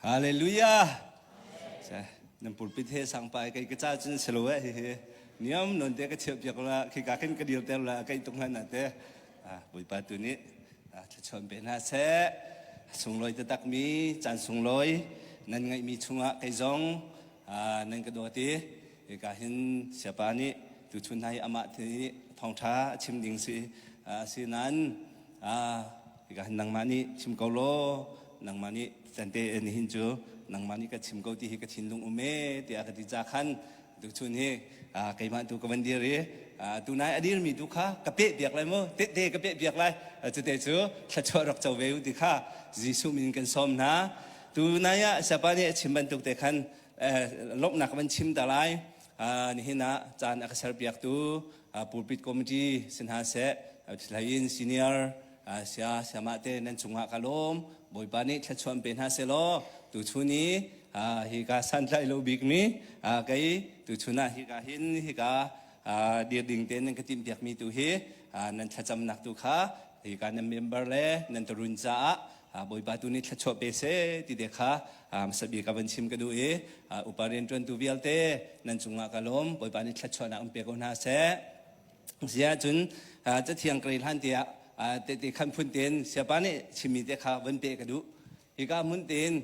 Hallelujah. Nan pulpit he sang pai kai ka cha cun selo eh hihi. Niam non te ka cheu piak la khi ka kin ka dir ter la kai tung han na te. Bawipa tu nih thluachuan pe hna seh. Sunglawi taktakmi caan sunglawi nan ngeihmi chungah kei zong nan ka dawt i hika hin siapa nih tuchun hna hi amah thi thawngṭha a chim ding si si nan hika hin nangmah nih chim ko law nangmah nih tante hin cu nangmah nih ka chim ko ti hi ka thinlung um e tiah ka ti ca khan Tuchun hi keimah tu ka van dir i tunai a dirmi tu kha ka peh piak lai maw tehte ka peh piak lai cute cu thluachuah rak co ve u ti kha Jesuh min kan sawm hna tunai ah sapa nih a chim bantuk te khan lomhnak van chim ta lai nihin ah caan a ka ser piaktu pulpit committee si hna seh in senior sia siama te nan cungah ka lawm bawipa nih thluachuan pe hna se law tu chun i hi ka santlai lo bik mi kei tu chun ah hi ka hin hi ka dir ding te nan ka tim piak mi tu hi nan thlacamnak tu kha hi ka nan member le nan tarun caah bawipa tu nih thluachuah pe se ti de kha sabi ka van chim ka du i upa rian tuan tu vialte nan cungah ka lawm bawipa nih thluachuahnak um pe ko hna seh Ziahcun cathiang ka rel hlan te ah tehte khan phun tein siapa nih chimmi te kha van peh ka duh. Hika hmun tein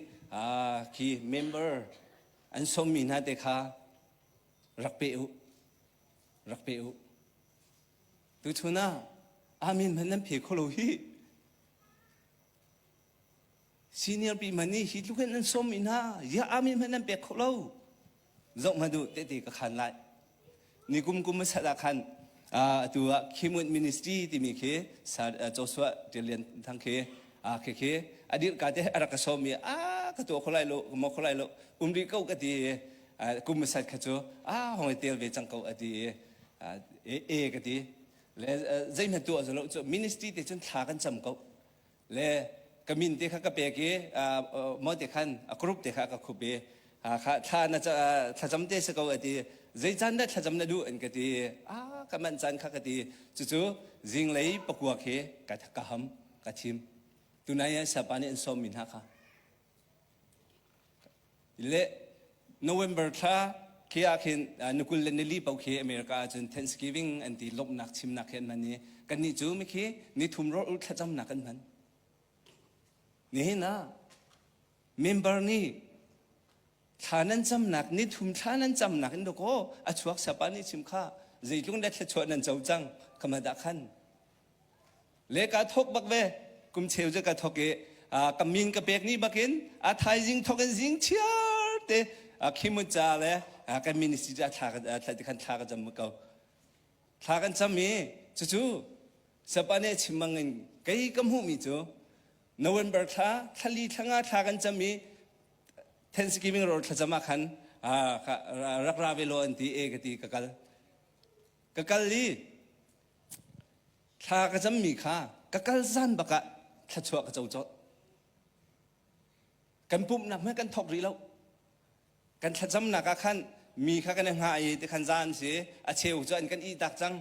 khi member an sawmmi hna te kha rak pe u. Rak pe u. Tuchun ah amin hman nan phe kho lo hi Senior pi hmanh nih hi tlukin an sawm i hna ya army hmanh an pek kho lo zoh hmanh duh tehte ka khan lai nikum kum a sat ah khan atu ah Kimut Ministry timi khi Joshua Tilian thang khi khi khi a dirka te a rak ka sawm i a ka to kho lai lo ka mo kho lai lo umri ko ka ti kum a sat kha cu a hong tel ve cang ko a ti e ka ti le zeihmanh tu a zolo cu ministry te cun thla kan cam ko le ka min te kha ka pek i mo te khan a group te kha ka khup i thla na thlacam te si ko a ti zei caan dah thlacam na duh an ka ti a ka manh caan kha ka ti cucu zinglei pakuak hi ka ka ham ka thim tunai ah sapa nih an sawm mi hna kha Le November thla khi ah khin ni kul le nili pau khi America ah cun Thanksgiving an ti lomhnak chimnak khi an hman i kannih cu mikhi nithum rawlh thlacamnak kan hman nihin ah member nih thla nan camnak nithum thla nan camnak in dakaw a chuak sapa nih chim kha zeitlung le thluachuah nan co cang kama dah khan le ka thok bak ve kum cheu je ka thok i ka min ka pek ni bakin a thaizing thok in zing chiar te khimun ca le kan ministry ca thla kan thla ka cam ko thla kan cam i cucu sapane chimmang in kei ka hmuhmi cu November thla thali thlanga thla kan cam i Thanksgiving roll thlacam ah khan rak ra ve law an ti e ka ti ka kal ka kal i Thla ka cammi kha ka kal zan bak ah thluachuah ka co cawlh. Kan pumhnak hmanh kan thawk rih lo. Kan thlacamnak ah khan mi kha kan i hngah i ti khan zan si a cheu cu an kan ih tak cang.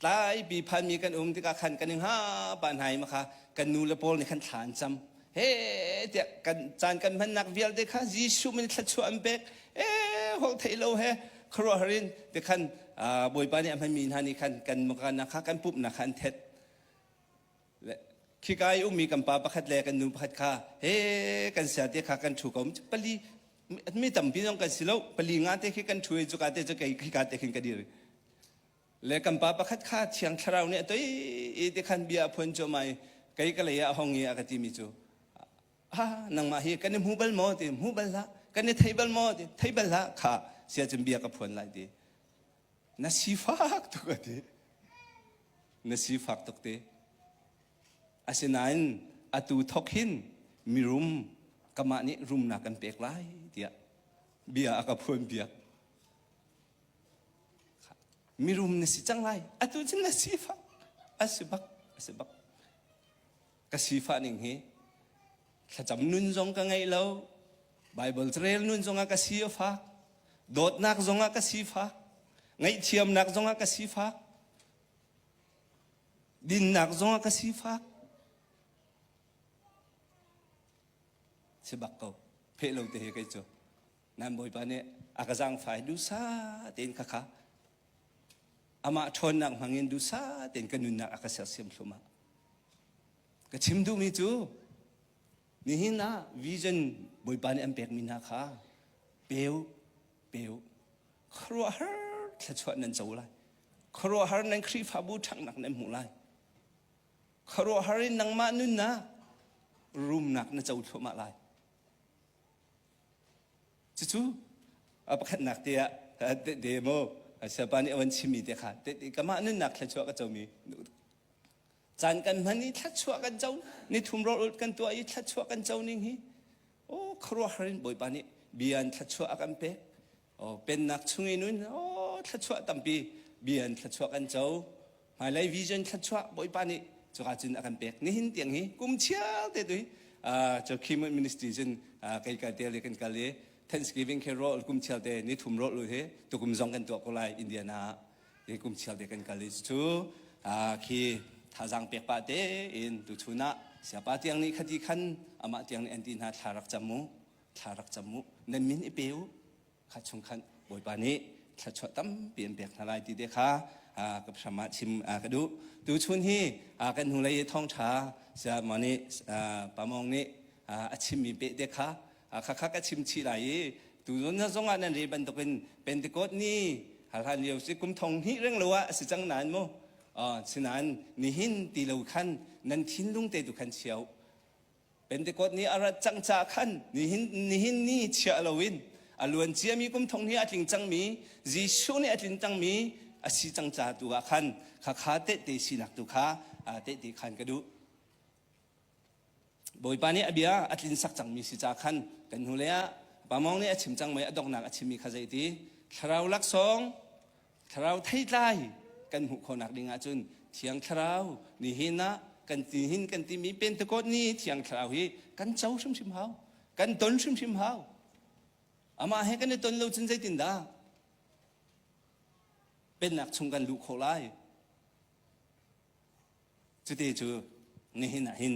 Tlaipi phanmi kan um tikah khan kan i hngah pah hna i maka kan nu le pawl nih khan thla an cam. he tiah kan caan kan hmannak vialte kha Jesuh min thluachuah an pek e hol thei lo he khuaruahhar in ti khan Bawipa nih a hmanmi hna nih khan kan makannak kha kan pumhnak kha an thet khika i ummi kan pa pakhat le kan nu pakhat kha he kan siate kha kan thu ko pali mi tampi zong kan si lo pali nga te khi kan thu i cuka te cu kei khika te khin ka dir le kan pa pakhat kha thiang thlarau nih a toi i ti khan bia a phuan cuam ai kei ka lei ah a hong i a ka timi cu ha nangmah hi kan i hmu bal maw ti hmu bal hlah kan i thei bal maw ti thei bal hlah kha sia cun bia ka phuan lai ti na si fak tuk a ti na si fak tuk ti asinain atu thok hin mirum kamah nih rumnak kan pek lai tiah bia a ka phuan biak mirum na si cang lai atu cun na sifah a si bak a si bak ka sifah ning hi thlacam nun zong ka ngei lo bible carel nun zongah ka si a fak dawtnak zongah ka sifak ngaihthiamnak zongah ka sifak dinnak zongah ka sifak si bak ko pheh lo te hi kei cu nan bawipa nih a ka zaangfai dusa tein khakha amah ṭhawnnak hmangin dusa tein ka nunnak a ka sersiam hlumah ka chim duhmi cu nihin ah vision bawipa nih an pekmi hna kha peu peu khuaruahhar thluachuah nan co lai khuaruahhar nan khrihfabu ṭhangnak nan hmuh lai khuaruahhar in nangmah nunnak rumnak na co thluahmah lai Cucu pakhatnak te ah tehte maw Siapa nih a van chimmi te kha tehte kamah nunnak thluachuah ka comi caan kan hman i thluachuah kan co ni thum rawlulh kan tuah i thluachuah kan co ning hi aw khuaruahhar in Bawipa nih bia in thluachuah a kan pek Aw, pennak chung i nun aw thluachuah tampi bian thluachuah kan co. Hmailei vision thluachuah Bawipa nih cuka cun a kan pek. Nihin tiang hi kum chiar te tu hi cu Climate Ministry cun kai kal te le kan kal i Thanksgiving khi rawl kum chiar te ni thum rawl hi tukum zong kan tuah ko lai Indiana ah hi kum chiar te kan kal i cu khi thazang pek pa te in tu chun ah siapa tiang nih khati khan amah tiang nih anti hna thla rak cam mu thla rak cam u, nan min i pe u. Kha chung khan Bawipa nih thluachuah tampi an pek hna lai ti te kha ka hram ah chim ka duh. Tu chun hi kan hnulei i thawngṭha Siamon nih Pamawng nih a chimmi pehte kha khakha ka chim chih lai i tu zawn zong ah nan re bantukin Pentecost ni hlan lio si kum thong hnih reng lo ah a si cang nain mu sinain nihin ti lo khan nan thinlung te tu khan chia u. Pentecost ni a rat cang caah khan nihin, nihin ni chiah loin a luan ciami kum thong hi a tling cangmi Jesuh nih a tlin cangmi a si cang caah tu ah khan khakha tehte sinak tu kha tehte khan ka duh. Bawipa nih a bia a tlinsak cangmi si caah khan kan hnulei ah Pamawng nih a chim cang mei a donghnak a chimmi kha zeiti? Thlarau laksawng, thlarau theitlai kan hmuh khawhnak ding ahcun thiang thlarau nihin ah kan nihin kan timi pentekot ni thiang thlarau hi kan co hrimhrim hau kan ton hrimhrim hau amah he kan i ton lo cun zeitindah pennak chung kan luh khawh lai Cuti cu nihin ah hin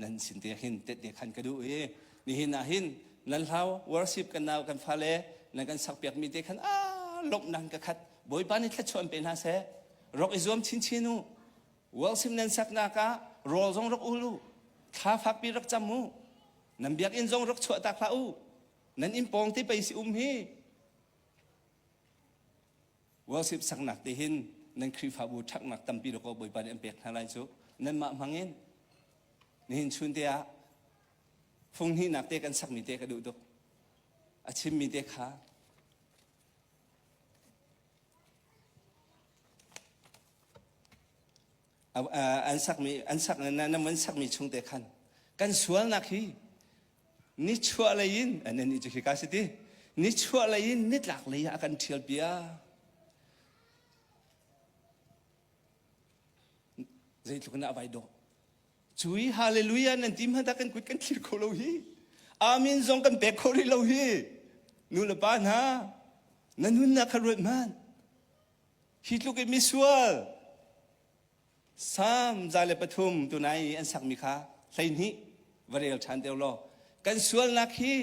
nan sin te hin tette khan ka duh i nihin ah hin nan hlau worship kan nau kan fale nan kan sakpiak mi te khan a lomhnak in ka khat Bawipa nih thluachuan pe hna seh rak i zuam chinchin u worship nan saknak ah rawl zong rak ul u thla fakpi rak cam u nan biakinn zong rak chuahtak hlah u nan inn pawng te pei si um hi Worship saknak te hin nan Khrihfabu ṭhaknak tampi lawkaw Bawipa nih an pek hna lai cu nanmah hmangin nihin chun te ah phunghnihnak te kan sakmi te ka duh tuk a chimmi te kha an sakmi an sak nam an sakmi chungte khan kan sualnak hi nichuah lei in annih cu hika si ti nichuah lei in nitlak lei ah kan ṭhial piak zeitluk in a vai dawh cu i hallelujah nan ti hmanhah kan kut kan thlir kho lo hi amin zong kan pek kho rih lo hi nu le pa hna na nunnak kha ruat hmanh Hi tluk in misual Salm za le pathum tunai i an sakmi kha hleihnih va rel ṭhan deuh law kan sualnak hi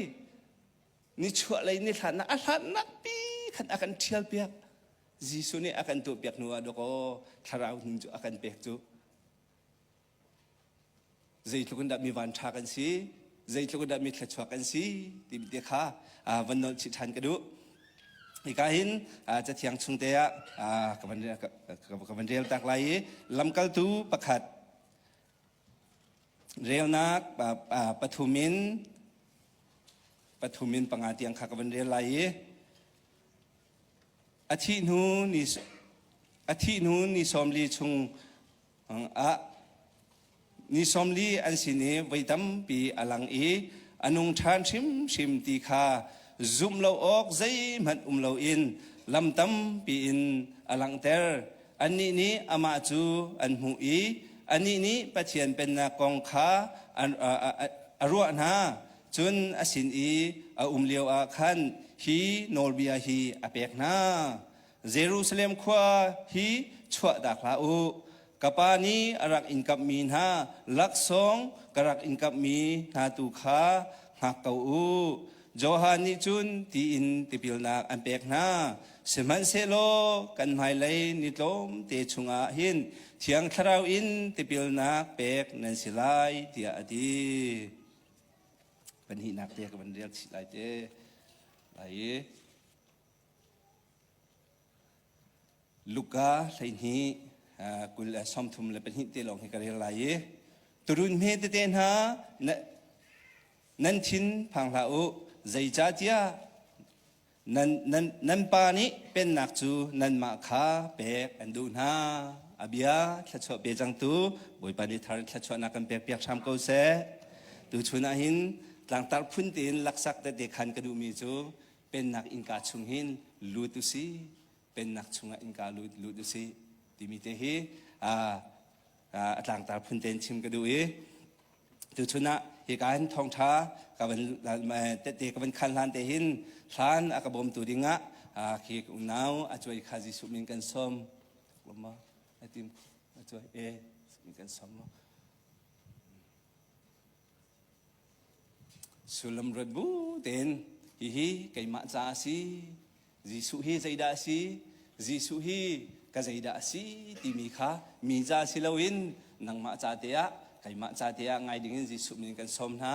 nichuah lei nihlannak a hlannak pi khan a kan ṭhial piak Jesuh nih a kan tuah piak hnuah dawkaw thlarau hnu cu a kan pek cu zeitluk in dah mi van ṭha kan si, zeitluk in dah mi thluachuak kan si timi te kha van nolh chih ṭhan ka duh. Hika hin cathiang chung te ah ka van rel tak lai i lamkaltu pakhat relnak pathum in pathum in panga tiang kha ka van rel lai i a thih hnu ni a thih hnu ni sawm li chung ah ni sawmli an sin i voi tampi a lang i a nung ṭhan hrimhrim ti kha zumh lo awk zeihmanh um loin lam tampi in a langhter. Annih nih amah cu an hmuh i anih nih Pathian pennak kong kha a ruah hna. Cun a sin i a um lioah khan hi nawlbia hi a pek hna. Jerusalem khua hi chuahdak hlah u. Ka pa nih a rak in kamhmi hna laksawng ka rak in kamhmi hna tu kha hngak ko u. Johan nih cun tiin tipilnak an pek hna. Sihmanhsehlaw kan hmailei ni tlawm te chungah hin Thiang Thlarau in tipilnak pek nan si lai tiah a ti. Panhnihnak te ka van riak chih lai te. Lai i Luka hleihnih kul sawmthum le pahnih te lawng hi ka rel lai i turun hme tete hna nan thin phang hlah u zeicahtiah nan pa nih pennak cu nanmah kha pek an duh hna a bia thluachuah pe cangtu bawipa nih thar thluachuahnak kan pekpiak hram ko seh tuchun ah hin tlangtar phun tein laksak tete khan ka duhmi cu Pennak innka chung hin lut u si, Pennak chungah innka lut, lut u si timi te hi a tlangtar phun tein chim ka duh i tuchun ah hika hin thawngṭha ka van tete ka van khan hlan te hin hlan a ka bawmtu dingah khi unau a cuai kha Jesuh min kan sawm ma a tim a cuai e min kan sawm ma Sullam ruat bu tein hihi keimah caah a si. Jesuh hi zeidah a si? Jesuh hi ka zeidah a si timi kha mi ca si loin nangmah ca te ah keimah ca te ah ngai dingin Jesuh min in kan sawm hna.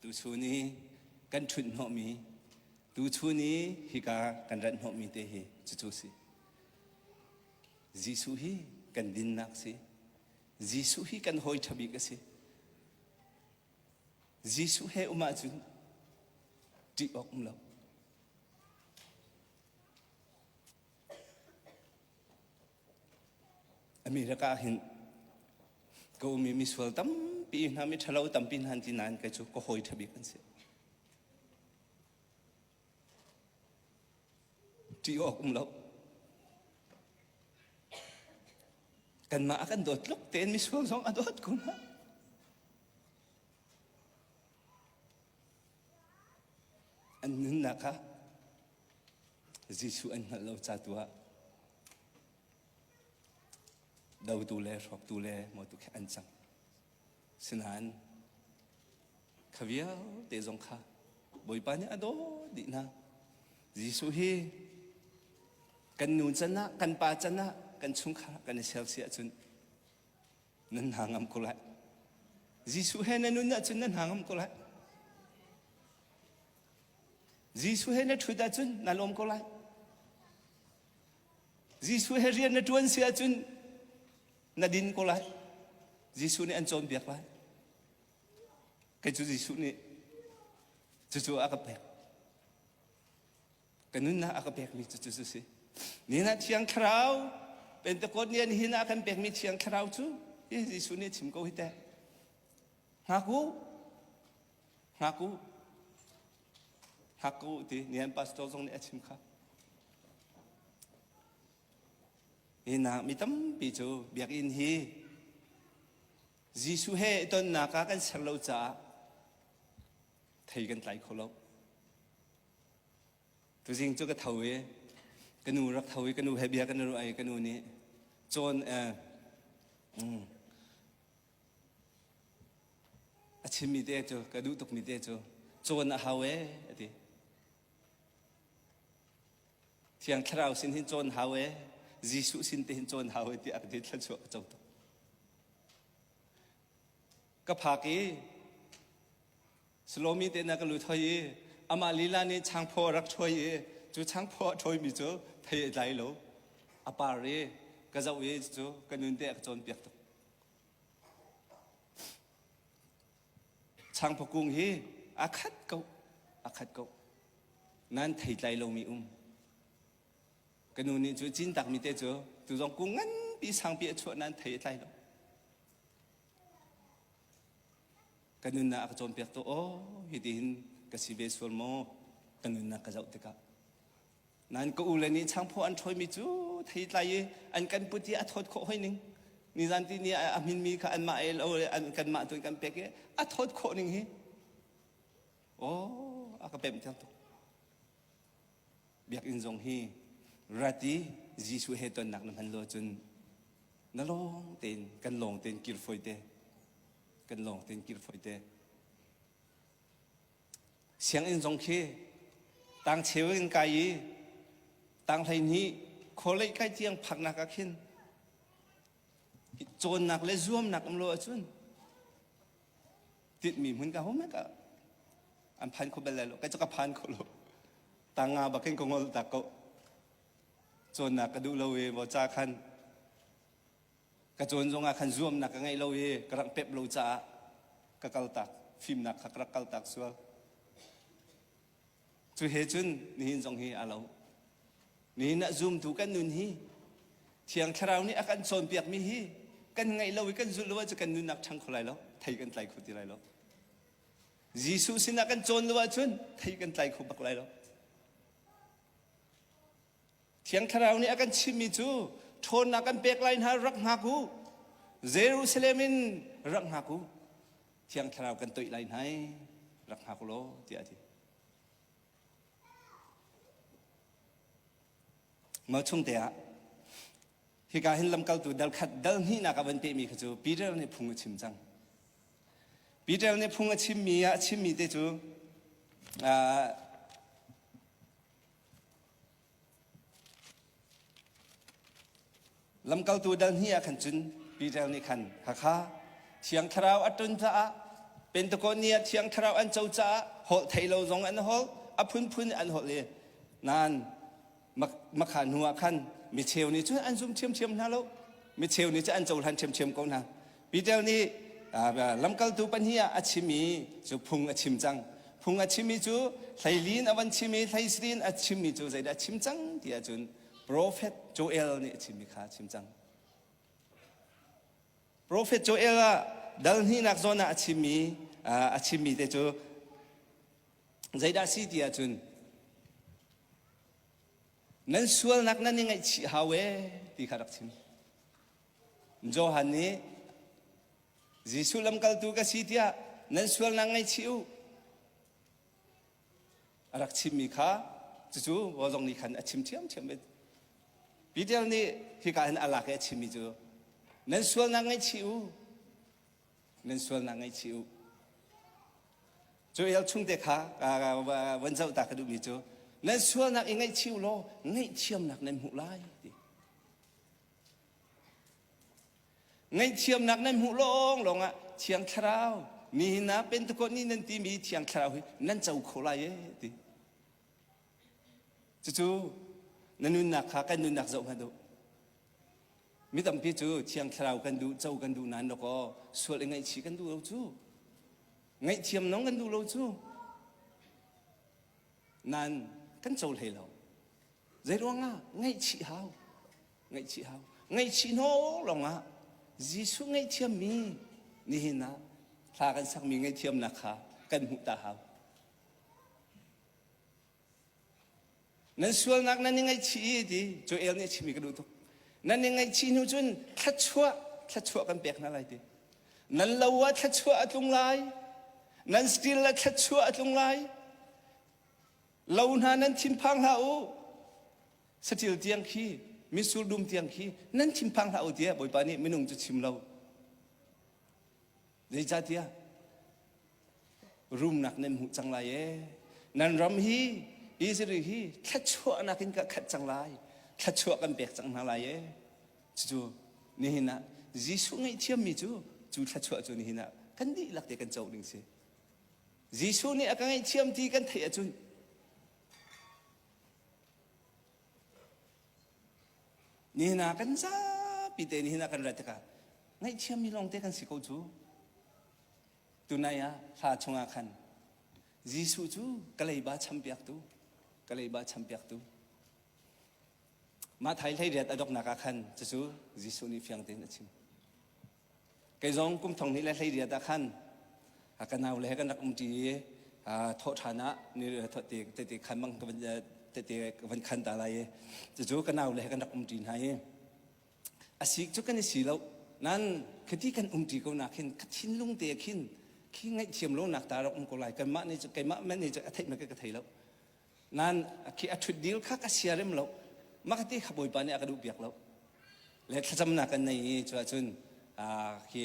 Tuchun i kan ṭhunh hnawhmi, tuchun i hika kan rat hnawhmi te hi cucu si. Jesuh hi kan dinnak a si. Jesuh hi kan hawi ṭha bik a si. Jesuh he um ahcun ṭih awk um lo. A mi lakah hin ka ummi misual tampi hna, miṭhalo tampi hna an ti nain kei cu ka hawi ṭhabik an si. Ṭih awk um lo. Kanmah a kan dawt tluk tein misual zong a dawt kun hna. An nunnak kha Jesuh an hngalh lo ca tu ah dotu le hrawktu le motu khi an cang. Sinain kha vialte zong kha Bawipa nih a dawt dih hna. Jesuh hi kan nu can ah, kan pa can ah, kan chungkhar ah kan i ser si ahcun nan hna ngam ko lai. Jesuh he na nun ahcun nan hna ngam ko lai. Jesuh he na ṭhut ahcun na lawm ko lai. Jesuh he rian na ṭuan si ahcun na din ko lai. Jesuh nih an cawnpiak lai. Kei cu Jesuh nih cucu a ka pek. Ka nunnak a ka pekmi cucu cu si. Nihin ah Thiang Thlarau, Pentecost ni ah nihin ah kan pekmi Thiang Thlarau cu, hi Jesuh nih a chim ko hi teh. Hngak u, Hngak u. Hngak ko u ti nian pastor zong nih a chim kha. Hinak mi tampi cu biakinn hi Jesuh he i tonnak ah kan ser lo caah thei kan tlai kho lo. Tuzing cu ka tho i ka nu rak tho i ka nu he bia kan i ruah i ka nu nih cawn eh, mm, A chimmi te cu, ka duh tukmi te cu, cawn a hau ee, a ti. Thiang Thlarau sin hin cawn hau ee, Jesuh sin te hin cawn hau ee, ti a ka ti thlan chuah ka co tuk. Ka phak i, Salomi te na ka lut hoi i, amah lila nih changphaw a rak ṭhuai i, cu changphaw a ṭhawimi cu thei a tlai lo. A par i, ka zoh i, cucu ka nun te a ka cawnpiak tuk. Changpa kung hi aa khat ko, aa khat ko. Nan thei tlai lomi um. Ka nu nih cu cin takmi te cu tu zong kung nganpi sangpi a chuah nan thei tlai lo. Ka nunnak ka cawnpiak tu aw, hiti hin ka si ve sual maw? Ka nunnak ka zoh tikah. Nain ka ule nih changphaw an ṭhawimi cu thei tlai i an kan put i a thawt khawh hoi ning. Nizan ti ni a minmi kha anmah ALO le kanmah tu in kan pek i a thawt khawh ning hi. Aw, a ka pemh tuk. Biakinn zong hi rat i Jesuh he tonnak na hman lo cun na lawng tein kan lawng tein kir fawi te. Kan lawng tein kir fawi te. Sianginn zong khi tangcheu in kai i tang hleihnih khualei kai tiang phaknak ah khin cawnnak le zuamnak um lo ahcun tinhmi hmun ka hum ka an phan kho bel lai lo kai cu ka phan kho lo tanga bakin ka ngol tak ko cawnnak ka duh lo ve maw ca khan ka cawn zongah khan zuamnak ka ngeih lo i ka rak pep lo caah ka kal tak fimnak kha ka rak kal tak sual cu he cun nihin zong hi aa lo nihin ah zumtu kan nun hi thiang thlarau nih a kan cawnpiakmi hi kan ngaih lo i kan zulh lo ah cu kan nunnak ṭhang kho lai lo thei kan tlai kho ti lai lo Jesuh sinah kan cawn lo ahcun thei kan tlai kho bak lai lo Thiang Thlarau nih a kan chimhmi cu ṭhawnnak kan pek lai hna rak hngak u. Jerusalem in rak hngak u. Thiang Thlarau kan toih lai hna i rak hngak u law tiah a ti. Mah chungte ah hika hin lamkaltu dal khat dal hnihnak a van pehmi kha cu Peter nih phung a chim cang. Peter nih phung a chimmi ah a chimmi te cu Lamkaltu dalhni ah khan cun Peter nih khan Hakha Thiang Thlarau a ṭun caah Pentecostia Thiang Thlarau an co caah holh thei lo zong an holh a phunphun an holh i nan makha hnu ah khan micheu nih cun an zum ṭhiamṭhiam hna lo micheu nih cun an cohlan ṭhiamṭhiam ko hna Peter nih lamkaltu pahnih ah a chim i cu phung a chim cang. Phung a chimmi cu hleili in a van chim i hleisiri in a chimmi cu zeidah a chim cang ti ahcun profet Joel nih a chimmi kha a chim cang. Profet Joel ah dal hnihnak zawn ah a chimmi a chimmi te cu zeidah a si ti ahcun nan sualnak nan i ngaihchih hau ee ti kha rak chim. Johan nih Jesuh lamkaltu ka si tiah nan sualnak ngaihchih u a rak chimmi kha cucu Wazong nih khan a chim ṭhiamṭhiam bik Peter nih hika hin a lak i a chimmi cu nan sualnak ngaihchih u nan sualnak ngaihchih u cu el chungte kha van zoh ta ka duhmi cu nan sualnak i ngaihchih u law ngaihthiamnak nan hmuh lai ti Ngaihthiamnak nan hmuh lawnglawng ah Thiang Thlarau mi hna Pentecost ni nan timi Thiang Thlarau hi nan co kho lai e ti. Cucu na nunnak kha kan nunnak zoh hngat u. Mi tampi cu Thiang Thlarau kan duh, co kan duh nain lakaw sual i ngaihchih kan duh lo cu. Ngaihthiam nong kan duh lo cu. Nan kan co hlei lo. Zeiruangah ngaihchih hau? Ngaihchih hau. Ngaihchih hnu lawngah Jesuh ngaihthiammi nihin ah thla kan sakmi ngaihthiamnak kha kan hmuh ta hau. Nan sualnak nan i ngaihchih i ti Joel nih a chimmi ka duh tuk. Nan i ngaihchih hnu cun thluachuah thluachuah kan pek hna lai ti. Nan lo ah thluachuah a tlung lai. Nan stil ah thluachuah a tlung lai. lo hna nan thinphang hlah u saṭil tiang khi mitsur dum tiang khi nan thinphang hlah u tiah bawipa nih minung cu chim lo zeicahtiah rumnak nan hmuh cang lai e nan ram hi Israel hi thluachuahnak in ka khat cang lai thluachuah kan pek cang hna lai e cucu nihin ah Jesuh ngaihthiammi cu cu thluachuah cu nihin ah kan dihlak te kan co ding si Jesuh nih a ka ngaihthiam ti kan theih ahcun nihna kan zapi te nihna kan rat tikah ngaihthiammi lawngte kan si ko cu. Tunai ah hla chungah khan Jesuh cu kaleiba champiaktu, kaleiba champiaktu. Mathai hleiriat a donghnak ah khan cucu Jesuh nih fiang tein a chim. Kei zong kum thong hnih le hleiriat ah khan ka nau le he kan rak um ṭi i thawh ṭhan ah ni tete khan bang tete ka van khan ta lai i cucu ka nau le he kan rak um ṭi hna i a si cu kan i si lo nan khiti kan um ṭi ko nak hin ka thinlung te khin khi ngaihthiam lonak ta rak um ko lai kanmah nih cu keimah man nih cu a theih make ka thei lo nan a ṭhut dil kha ka siarem lo maka ti kha bawipa nih a ka duh piak lo le thlacamnak kan nei i cuah cun khi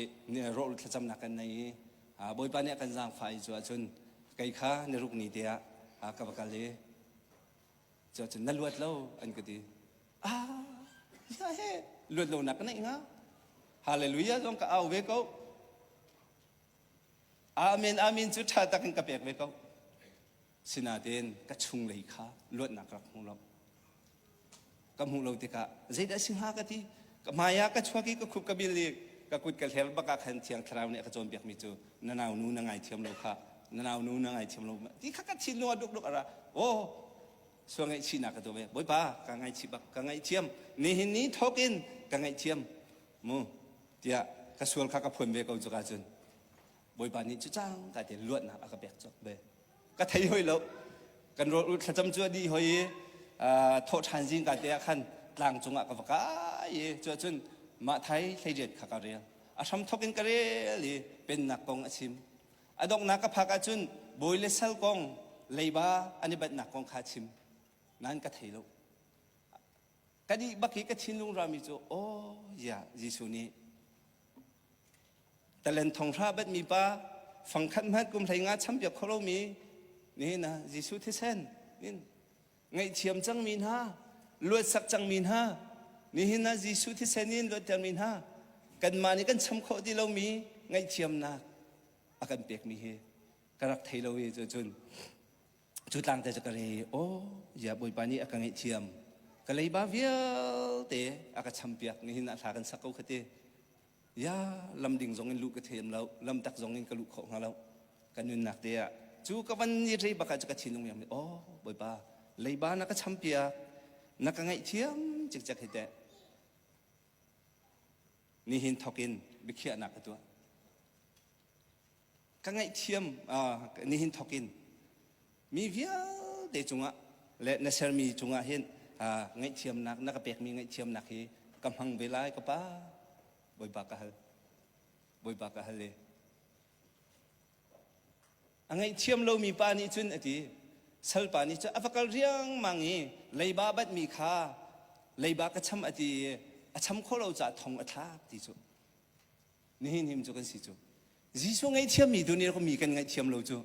rawh thlacamnak kan nei i bawipa nih a kan zaangfah i cuah cun kei kha na ruk ni te ah ka va kal i cuah cun na luat lo an ka ti ah ya he luat lonak ka neih nga hallelujah zong ka au ve ko amen amen cu ṭha tak in ka pek ve ko Sinain ka chunglei kha luatnak rak hmu lo. Ka hmuh lo tikah zeidah a si hnga ka ti. Ka hmaiah ka chuak i ka khup ka bil i ka kut ka hler bak ah khan Thiang Thlarau nih a ka cawnpiakmi cu na naunu na ngaithiam lo kha na naunu na ngaithiam lo ti kha ka thinlung ah dukduk a ra. Aw, sual ngaihchihnak ka tuah ve. Bawipa, ka ngaihchih bak, ka ngaihthiam. Nihin ni thawkin ka ngaihthiam mu tiah ka sual kha ka phuan ve ko cuka cun. Bawipa nih cu cang ka te luatnak a ka pek cawk be ka thei hoi lo kan rol ul thlacam cu a di hoi i thaw ṭhan zing ka te ah khan tlang cung ah ka va kai i cu ahcun mah thai hleijet kha ka rel a hram thok in ka rel i pennak kong a chim a donghnak ka phak ahcun bawi le sal kong leiba an i batnak kong kha chim nan ka thei lo Ka nih bak i ka thinlung rami cu, aw, ziah, Jesuh nih, Talen thong hra batmi pa, fangkhat hmanh kum hlei nga champiak kho lomi, nihin ah Jesuh thisen in ngaihthiam cangmi hna, luatsak cangmi hna, nihin ah Jesuh thisen in luattermi hna, kanmah nih kan cham khawh ti lomi ngaihthiamnak a kan pekmi hi ka rak thei lo i cun cu tlangte cu ka re aw ya bawipa nih a ka ngaihthiam ka leiba vialte a ka champiak nihin a thla kan sak ko khati ya lam ding zong in lu ka theem lo lam tak zong in ka lu kho hnga lo ka nunnak te ah cu ka van ni rei baka cu ka thinung yang mi aw bawipa leiba na ka champiak na ka ngaihthiam cik cek hi te nihin thokin bikhia na ka tuah ka ngaihthiam nihin thawk in mi vialte cungah le na sermi cungah hin ngaihthiamnak na ka pekmi ngaihthiamnak hi ka hmang ve lai ka pa bawiba ka hal bawiba ka hal e a ngaihthiam lomi pa nih cun a ti salpa nih cun a va kal riangmang i leiba batmi kha leiba ka cham a ti i a cham khawh lo caah thong a thlak ti cu Nihin him cu kan si cu. Jesuh ngaihthiammi tu nih mi kan ngaihthiam lo cu.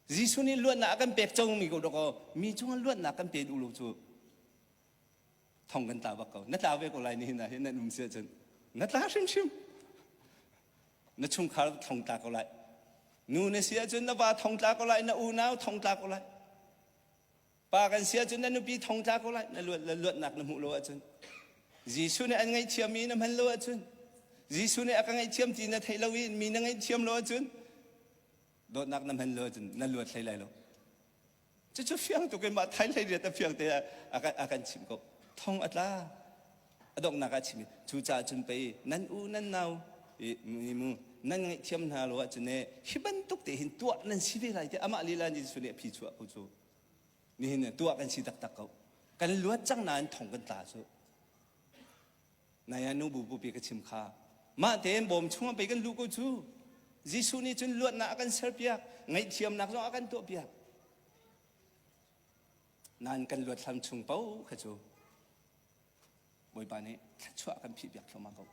Jesuh nih luatnak a kan pek cangmi ko dawkaw mi cungah luatnak kan pe duh lo cu thong kan tla bak ko. Na tla ve ko lai nihin ah hin nan um si ahcun. Na tla hrimhrim. Na chungkhar thong tla ko lai. Nu na si ahcun na va thong tla ko lai, na unau thong tla ko lai. Pa kan si ahcun na nupi thong tla ko lai na luatnak na hmuh lo ahcun Jesuh nih an ngaihthiam i na hman lo ahcun Jesuh nih a ka ngaihthiam ti na theih lo i mi na ngaihthiam lo ahcun dawtnak na hman lo ahcun na luat hlei lai lo cucu fiang tuk in mah thai hlei riat a fiang te a kan chim ko thong a tla a donghnak ah chim cucaah cun pei nan u nan nau mi mu nan ngaihthiam hna lo ahcun e hi bantuk te hin tuah nan si ve lai tiah amah lila nih Jesuh nih a phi chuah ko cu nihin tuah kan si taktak ko kan luat cang nain thong kan tla cu naya nu bu bupi ka chim kha mah tein bawm chungah pei kan lu ko cu Jesuh nih cun luatnak a kan serpiak ngaihthiamnak zong a kan tuahpiak nan kan luat hlam chung po kha cu Bawipa nih thluachuah kan phih piak thluamah ko.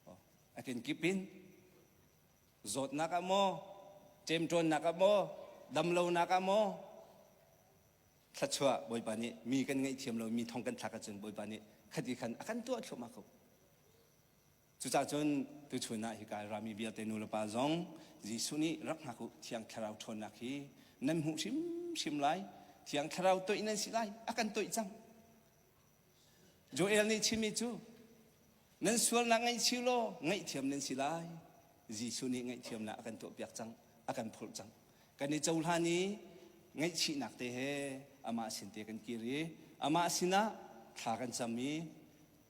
Oh. A kenkip in zawtnak ah maw, cemṭawnnak ah maw, damlonak ah maw, thluachuah Bawipa nih mi kan ngeih thiam lo mi thong kan thlak ahcun Bawipa nih khati khan a kan tuah thluamah ko. Cucah cun tuchun ah hika rami vialte nulepa zong Jesuh nih rak hngak u thiang thlarau ṭhawnnak hi nan hmuh hrimhrim lai thiang thlarau toih nan si lai a kan toih cang Joel nih chimmi cu nan sualnak ngaihchih law ngaihthiam nan si lai. Jesuh nih ngaihthiamnak a kan tuahpiak cang, a kan phurh cang. Kan i cohlan i ngaihchihnak te he amah sin te kan kir i amah sinah thla kan cam i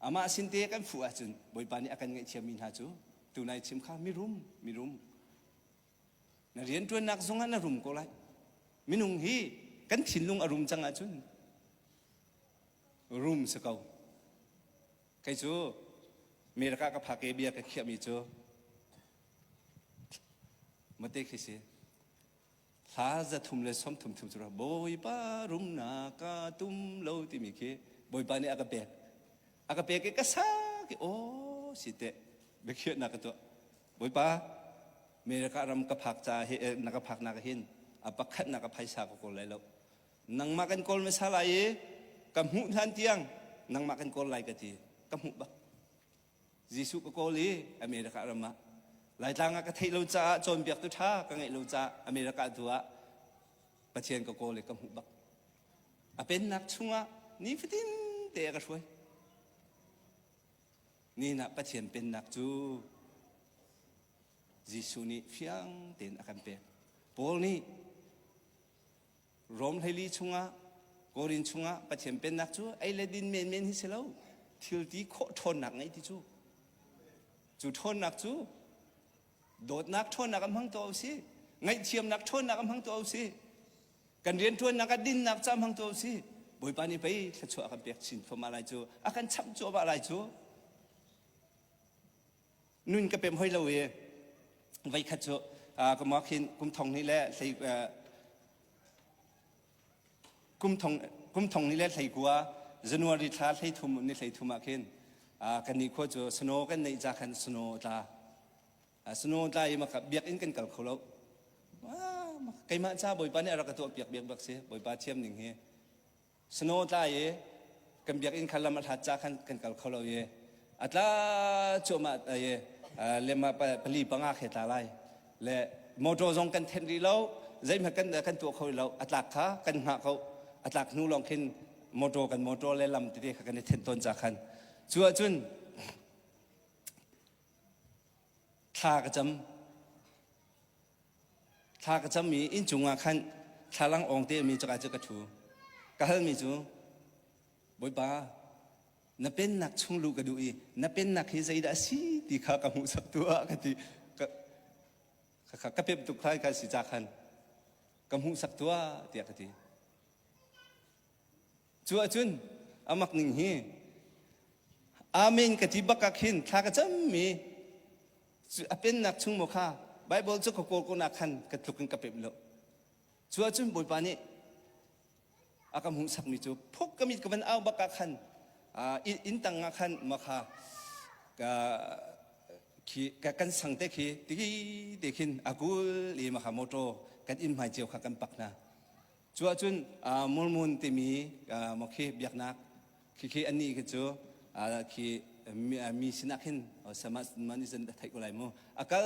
amah sin te kan fuh ahcun Bawipa nih a kan ngaihthiammi hna cu tunai chim kha mirum, mirum Na rianṭuannak zung ah na rum ko lai. Minung hi kan thinlung a rum cang ahcun rum si ko. Kei cu America ka phake bia ka khiahmi cu mate khi si. Hla za thum le som thum thum cu Bawipa rumnak ka tum lo timi khi Bawipa nih a ka pek. A ka pek i ka saki aw si te biakhiah na ka tuah bawipa America ram ka phak ca hi na ka phak nak hin a pakhat na ka phaisa ka kawl lai lo nangmah kan kawl hmasa lai i ka hmuh hlan tiang nangmah kan kawl lai ka ti ka hmuh bak Jesuh ka kawl i America ram ah Laitlang ah ka theih lo caah cawnbiak tu ṭha ka ngeih lo caah America tu ah Pathian ka kawl i ka hmuh bak A pennak chungah nifatin te a ka hruai. Nihin ah Pathian pennak cu Jesuh nih fiang tein a kan pek. Paul nih Rom hleili chungah Korin chungah Pathian pennak cu ei le din menmen hi si lo thilti khawh ṭhawnnak ngei ti cu. Cu ṭhawnnak cu dawtnak ṭhawnnak an hmang tuah usih ngaihthiamnak ṭhawnnak an hmang tuah usih kan rianṭuannak ah dinnak ca hmang tuah usih bawipa nih pei thluachuah a kan pek chin fama lai cu a kan chamh cuahmah lai cu nun ka pem hoi lo i voikhat cu ka mawkhin kum thong hnih le hlei kum thong kum thong ni le hleikua January thla hleithum ni hleithum ah khin kan ni khua cu snow kan neih ca khan snow tla snow tla i maka biak in kan kal kho lo keimah ca bawipa nih a rak ka tuah piak biak bak si bawipa thiam ning hi snow tla i kan biakinn kha lam a hlat ca khan kan kal kho lo i a tla cuahmah i lema pali panga khi tla lai le motor zong kan thenh rih lo zeihmanh kan kan tuah kho lo a tlak kha kan hngah ko a tlak hnu lawng khin motor kan motor le lam tete kha kan i thenh tawn ca khan cu ahcun thla ka cam thla ka cam i inncung ah khan thlalang awng te mi caka cu ka thu ka halmi cu bawipa na pennak chung luh ka duh i na pennak hi zeidah a si ti kha ka hmuhsak tuah ka ti ka ka, ka pep tuk khai ka si ca khan ka hmuhsak tuah tiah ka ti Cu ahcun amak ning hi Amen ka ti bak ah khin thla ka cammi a pennak chung maw kha Baibal cu ka kawl ko nak khan ka tluk in ka pemh lo. Cu ahcun Bawipa nih a ka hmuhsakmi cu phuk ka mit ka van au bak ah khan inn tang ah khan ma kha kan sang te khi tiki te khin a kul i ma kha motor kan inn hmai cio kha kan pak hna. Cu ahcun Mormon timi maw khi biaknak khi anih khi cu khi mi sinah khin man izan theih ko lai mu a kal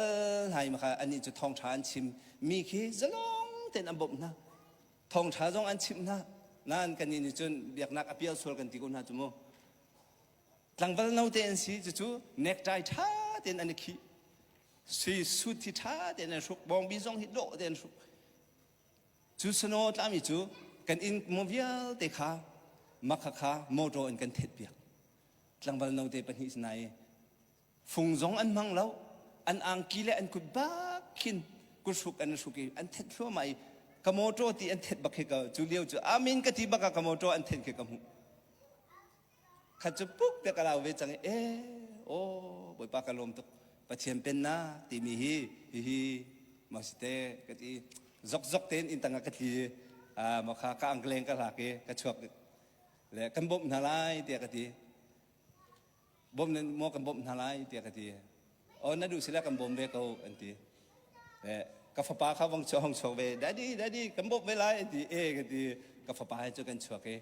hna i makha anih cu thawngṭha an chim mi khi zalong tein an bawmh hna thawngṭha zong an chimh hna nan kannih nih cun biaknak a pial sual kan ti ko hna cu mu tlangval note an si cucu nekṭai ṭha tein an i khih sui sut hi ṭha tein an hruk bawngbi zong hi dawh tein hruk Cu sanaw tlami cu kan inn maw vialte kha makhakha motor in kan thetpiak. Tlangval note pahnih si nai fung zong an hmang lo. An angki le an kut bak khin kuhruk an hruk i an thet thluamah i ka motor ti an thet bak khi ka cu lio cu amin ka ti bak ah ka motor an thet khi ka hmuh. khat cu puk te ka lau ve cang i eh aw bawipa ka lawm tuk pathian pennak timi hi hihi ma si te ka ti zokzok tein inn tangah ka tli ah ma kha ka angleng ka hlak i ka chuak le kan bawmh hna lai tiah ka ti bawm nan maw kan bawmh hna lai tiah ka ti o na duh sila kan bawm ve ko an ti eh ka fapa kha vong chuang chuak ve daddy daddy kan bawmh ve lai an ti eh ka ti ka fapa he cu kan chuak i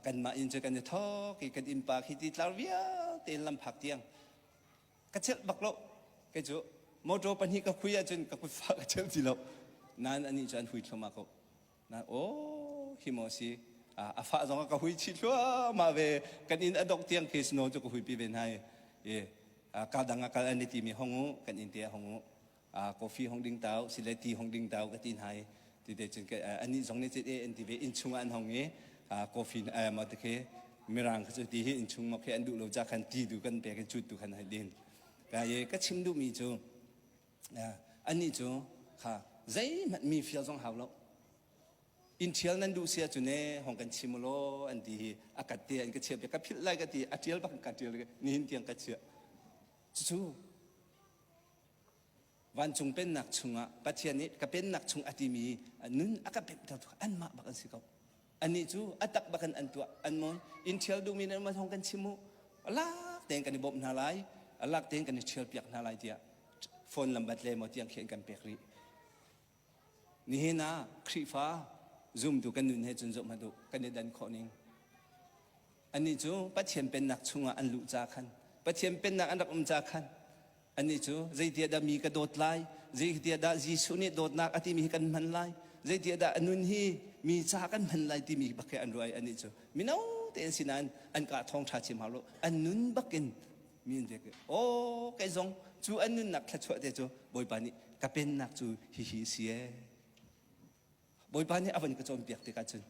kanmah inn cu kan i thawk i kan innpa khi ti tlar vialte in lamphak tiang ka chelh bak lo kei cu motor pahnih ka hui ahcun ka kutfa ka chelh ti lo nain anih cu an hui thluahmah ko nain aw hi maw si a fah zong a ka hui chih thluahmah ve kan inn a dok tiang case no cu ka hui pi ve hna i ka dang a kal an i timi hong u kan inn te a hong u coffee hong ding tau si le ti hong ding tau ka ti hna i tete cun anih zong nih cit e an ti ve inn chung ah an hong i coffee ma te khi mirang kha cu ti hi inn chung ma khi an duh lo ca khan ti du kan pek in cut tu khan hai din ka ye ka chim duh mi cu anih cu kha zeihmanh mi feel zong hau lo in ṭhial nan duh sia cu ne hong kan chim lo an ti hi a kat te an ka chiah ka philh lai ka ti a ṭial bang ka ṭial nihin tiang ka chiah cucu Vancung pennak chungah Pathian nih ka pennak chung a timi nun a ka pemhter tu anmah bak an si ko. Annih cu a tak bak in an tuah an mawi. In ṭhial duhmi nih anmah thawng kan chim u. Lak tein kan i bawmh hna lai, lak tein kan i ṭhial piak hna lai tiah phone lambat le maw tiang khi an kan pek rih. Nihin ah Khrihfa zumtu kan nun he cun zohhmanh u kan i dan khawh ning. Annih cu Pathian Pennak chungah an luh ca khan, Pathian Pennak an rak um ca khan, annih cu zeitiahdah mi ka dawt lai? Zeitiahdah Jesuh nih dawtnak a timi hi kan hman lai? Zeitiahdah a nun hi mi ca kan hman lai timi bak he an ruah i annih cu mino te an si nain an kah thawng ṭha chim hau lo. An nun bak in mi an vialte aw kei zong cu an nunnak thluachuah te cu bawipa nih ka pennak cu hihi si e bawipa nih a van ka cawnpiak tikah cun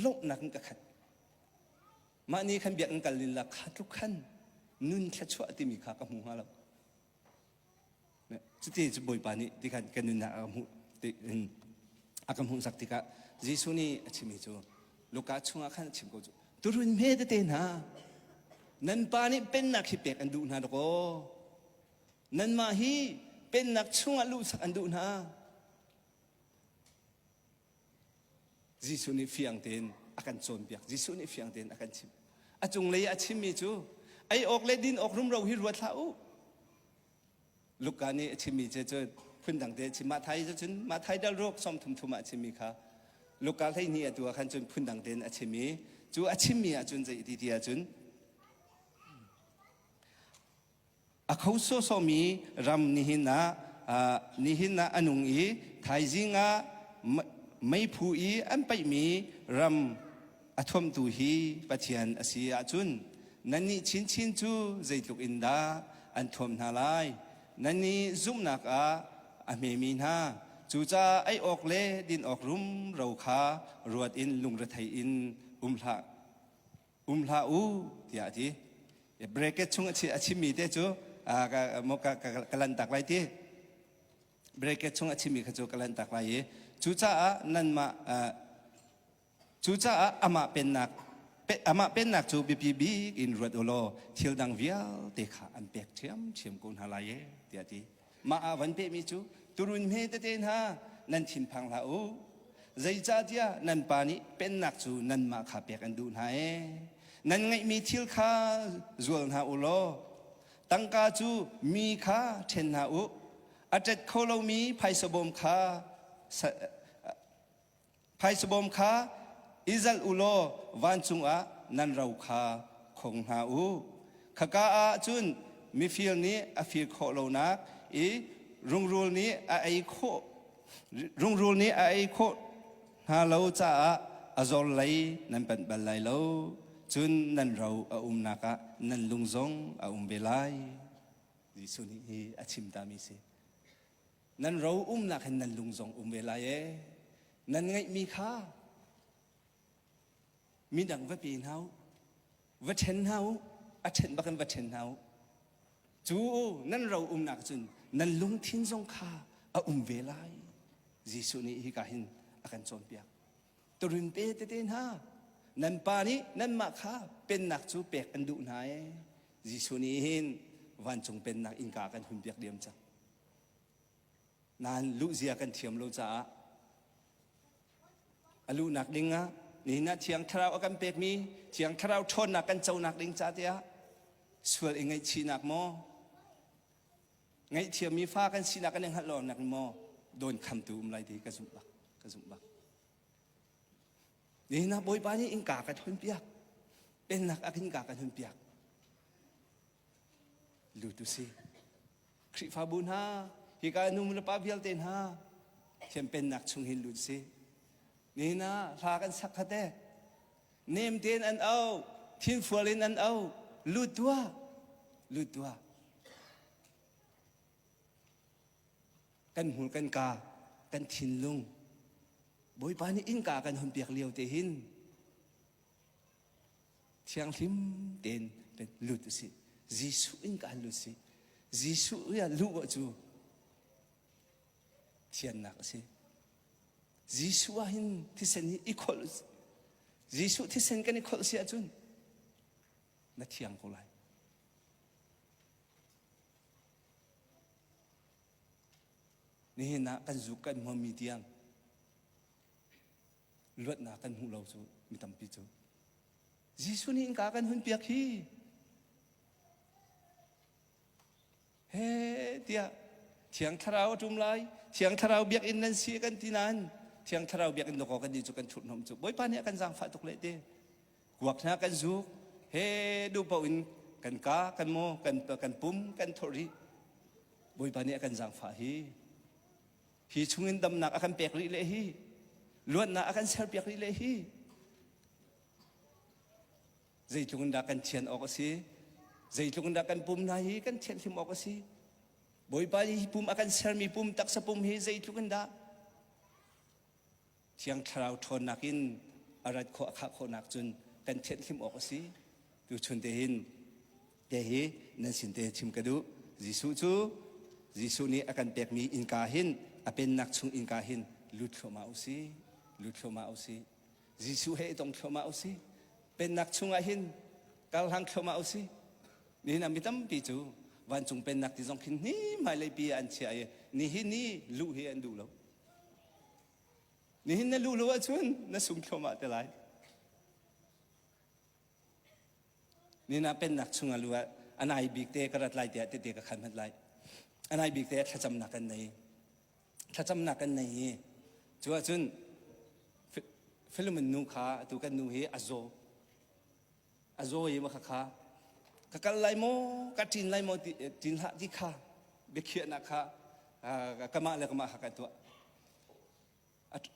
lawmhnak in ka khat mah ni khan biakinn kal lila kha tluk khan nun thluachuah timi kha ka hmu hnga lo Cuti cu Bawipa nih ti khan kan nunnak a hmuh in a kan hmuhsak tikah Jesuh nih a chimmi cu Luka chungah khan a chim ko cu tuhrun hme tete hna nan pa nih pennak hi pek an duh hna lakaw nanmah hi pennak chungah luhsak an duh hna Jesuh nih fiang tein a kan cawnpiak. Jesuh nih fiang tein a kan chim. A cunglei i a chimmi cu ei awk le din awk rumro hi ruat hlah u. Luka nih a chimmi cu cun phundangte a chim. Mathai cu cun Mathai dal ruk som thumthum ah a chimmi kha Luka hleihnih atu ah khan cun phundang tein a chim i cu a chimmi ahcun zei ti ti ahcun A kho sawsawmi ram nihin ah nihin ah a nung i thaizing ah meiphu i an paihmi ram a thuamtu hi Pathian a si ahcun nannih chinchin cu zeitluk in dah an thuam hna lai nannih zumhnak ah a hmemi hna cucaah ei awk le din awk rumro kha ruat in lungrethei in um hlah um hlah u tiah a ti bracket chung a chimmi te cu ka lantak lai ti bracket chung a chimmi kha cu ka lantak lai i cucaah nanmah cucaah amah pennak amah pennak cu biapi bik in ruat u law thil dang vialte kha an pek ṭhiamṭhiam ko hna lai e tiah a ti Mah ah van pehmi cu turun hme tete hna nan thinphang hlah u, zeicahtiah nan pa nih pennak cu nanmah kha pek an duh hna ee. Nan ngeihmi thil kha zual hna u law tangka cu mi kha ṭhen hna u, a ṭet kho lomi phaisa bawm kha Phaisabawm kha izalh u law vancung ah nan ro kha khong hna u. Khaka ah cun mifir nih a fir khawh lonak i rungrul nih a ei khawh rungrul nih a ei khawh hna lo caah a zor lei nan panh bal lai lo. Cun nan ro a umnak ah nan lung zong a um ve lai. Jesuh nih hi a chim tami si. nan ro umnak hin nan lung zong um ve lai e nan ngeihmi kha midang va pe hna u va ṭhen hna u a ṭhen bak in va ṭhen hna u cu nan ro umnak cun nan lungthin zong kha a um ve lai Jesuh nih hika hin a kan cawnpiak turin pe tete hna nan pa nih nanmah kha pennak cu pek an duh hna e Jesuh nih hin vancung pennak innka kan hun biak diam cang Nain luhzia kan thiam lo caah a luhnak ding ah nihin ah Thiang Thlarau a kan pekmi Thiang Thlarau ṭhawnnak kan conak ding ca tiah sual i ngaihchihnak maw ngaihthiammi fa kan sinak kan i hngalh lonak maw dawn khamtu um lai ti ka zumh bak ka zumh bak nihin ah Bawipa nih innka ka tonpiak pennak ah khin ka kan hunpiak lut u si Khrihfabu hna, hika nu nulepa vialte hna, thiam pennak chung hin lut si. Nihin ah hla kan sak khat e. Nem tein an au, thinfual in an au, lut tuah, lut tuah. Kan hmul kan ka, kan thinlung. Bawipa nih innka kan hun piak lio te hin Thianghlim tein lut a si. Jesuh in ka lut a si. Jesuh ah luh cu thiannak a si. Jesuh ah hin thisen hi i kholh u sih. Jesuh thisen kan i kholh si ahcun na thiang ko lai. Nihin ah kan zuk kan hmuhmi tiang luatnak kan hmuh lo cu mi tampi cu Jesuh nih innka kan hunpiak hi he tiah thiang thlarau a ṭum lai thiang thlarau biakinn nan si kan ti nain thiang thlarau biakinn dawkaw kan ni cu kan thurhnawm cu bawipa nih a kan zaangfah tuk leh te kuak hna kan zuk he duhpaoh in kan ka kan mo kan kan pum kan thawrh rih bawipa nih a kan zaangfah hi hi chungin damnak a kan pek rih le hi luatnak a kan serpiak rih le hi zeitluk in dah kan thian awk a si zeitluk in dah kan pum hna hi kan thianhlim awk a si bawipa hi pum a kan sermi pum taksa pum hi zeitluk in dah Thiang thlarau ṭhawnnak in a rat khawh a khah khawhnak cun kan thianhhlim awk a si. Tuchun te hin te hi nan sin te chim ka duh. Jesuh cu Jesuh nih a kan pekmi innka hin a pennak chung innka hin lut thluahmah u si. Lut thluahmah u si. Jesuh he i tong thluahmah u si. Pennak chungah hin karhlang thluahmah u si. Nihin ah mi tampi cu vancung pennak ti zong khin hnemhmai leipi ah an chiah i nihin ni luh hi an duh lo. Nihin na luh lo ahcun na sung thluahmah te lai. Nina pennak chung a lu ah a nai bik te ka rat lai tiah tete ka khan hmat lai. A nai bik te thlacamnak kan nei. Thlacamnak kan nei i cu ahcun Filomen nu kha atu kan nu hi a zaw. a zaw i maka kha ka kal lai maw ka ṭin lai maw ti ṭin hlah ti kha biakhiahnak kha kamah le kamah kha ka tuah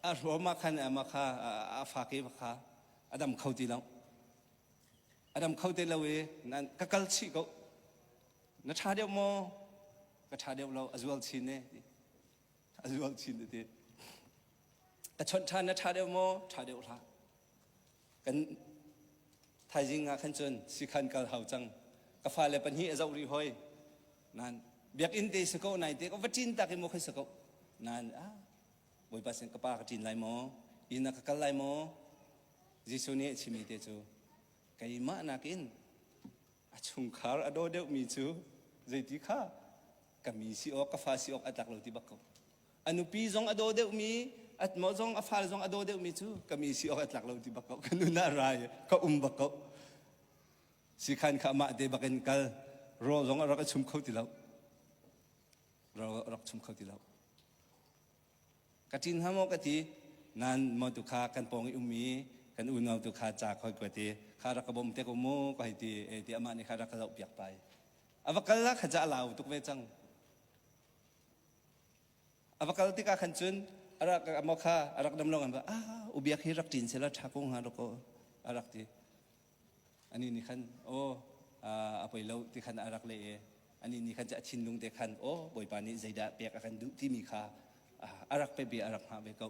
a hruama khan makha a fake makha a dam kho ti lo a dam kho ti lo i ka kal chih ko na ṭha deuh maw ka ṭha deuh lo a zual chin ne a zual chin ti ka chawnh ṭhan na ṭha deuh maw ṭha deuh hlah kan thaizing ah khan cun sikhan kal hau cang ka fale pahnih a zoh rih hoi nan biakinn te si ko nai te ko va cin tak i maw khoi si ko nan a bawipa sin ka pa ka cin lai maw ina ka kal lai maw Jesuh nih a chimi te cu keimah nakin A chungkhar a daw deuhmi cu zeiti kha ka mi si awk, ka fa si awk a tlak lo ti bak ko. A nupi zong a daw deuhmi, atmaw zong a fale zong a daw deuhmi cu ka mi si awk a tlak lo ti bak ko. Ka nu na rai ka um bak ko. Sikhan kha mah te bak in kal. Ro zong a rak i chum kho ti lo. Ro a rak chum kho ti lo. ka ṭin hnga maw ka ti nan mo tu kha kan pawng i um i kan unau tu kha ca khoi kuat i kha rak ka bawm te ko mu ka hei ti e ti amah nih kha rak ka zoh piak pai a va kal lah kha ca lau tuk ve cang a va kal tikah khan cun a rak mo kha a rak dam lo ngan va ah ubiak hi rak ṭin sela ṭha ko hnga lo kaw a rak ti Anih nih khan, Aw, a poi lo ti khan a rak leh i anih nih khan a thinlung te khan, Aw, Bawipa nih zeidah pek a kan duh timi kha a rak peh ve, a rak hngah ve ko.